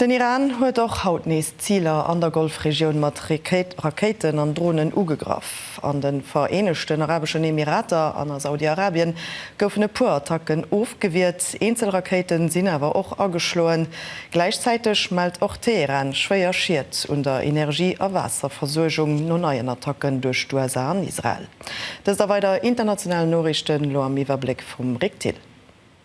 Den Iran huet och haut nees Ziler an der Golfregioun mat Rakéiten an Dronen ugegraff. An de Vereenegten Arabeschen Emirater an a Saudi-Arabien goufen e puer Attacken ofgewiert, eenzel Rakéite sinn awer och ageschloen. Gläichzäiteg mellt och Teheran schwéier Schied un der Energie a Waasserversuergung no neien Attacken duerch d'USA an Israel. Dëst a weider international Noriichten elo am Iwwerbléck vum Rick Thill.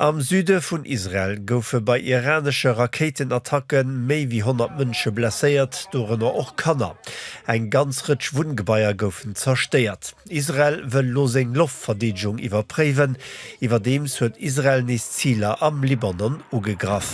Am Süde vun Israel goufe bei iranesche Rakéitenattacke méi wéi 100 Mënsche blesséiert, dorënner och Kanner. Eng ganz Rëtsch Wunngebaier goufen zerstéiert. Israel wëll elo seng Loftverdeedegung iwwerpréiwen. Iwwerdeems huet Israel nees Ziler am Libanon ugegraff.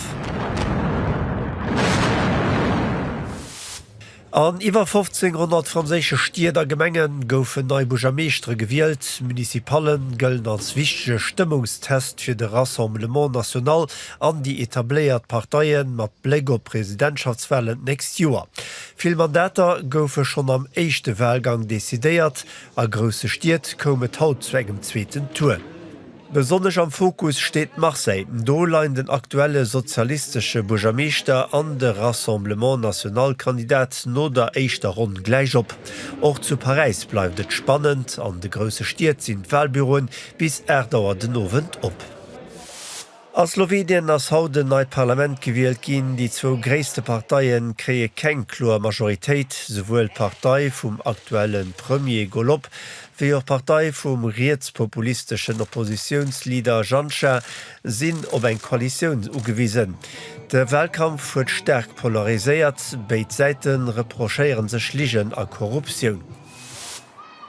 An iwwer 1500 franséische Stied a Gemenge goufen nei Buergermeeschtere gewielt. Municipale gëllen als wichtege Stëmmungstest fir de Rassemblement National an déi etabléiert Parteie mat Bléck op d'Presidentschaftswalen d'nächst Joer. Vill Mandater goufe schonn am éischte Walgang decidéiert. A grousse Stied koum et haut zu engem zweeten Tour. Besonnesch am Fokus steet Marseille. Do leien den aktuelle sozialistesche Buergermeeschter an de Rassemblement National-Kandidat no der éischter Ronn gläich op. Och zu Paräis bleift et spannend. An de grousse Stied sinn d'Walbüroen bis 8 Auer den Owend op. A Slowenien ass haut en neit Parlament gewielt ginn. Déi zwou gréisste Parteie kréie keng kloer Majoritéit. Souwuel d'Partei vum aktuelle Premier Golob wéi och d'Partei vum rietspopulisteschen Oppositiounsleader Janša, sinn op eng Koalitioun ugewisen. De Walkampf huet staark polariséiert, béid Säite reprochéiere sech Ligen a Korruptioun.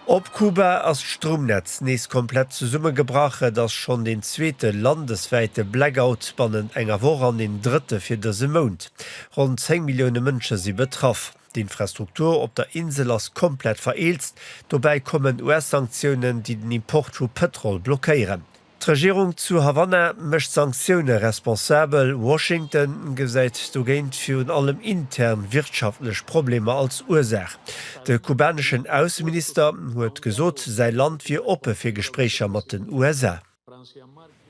Op Kuba ass d'Stroumnetz nees komplett zesummegebrach. Et ass schonn deen zweete landeswäite Blackout bannent enger Woch an deen drëtte fir dëse Mount. Ronn 10 Millioune Mënsche si betraff. D'Infrastruktur op der Insel ass komplett vereelzt, dobäi kommen US-Sanktiounen, déi den Import vu Pëtrol blockéieren. D'Regierung zu Havanna mécht d'Sanktioune responsabel, Washington gesäit dogéint virun allem intern wirtschaftlech Problemer als Ursaach. De kubaneschen Ausseminister huet gesot, säi Land wier oppe fir Gespréicher mat den USA.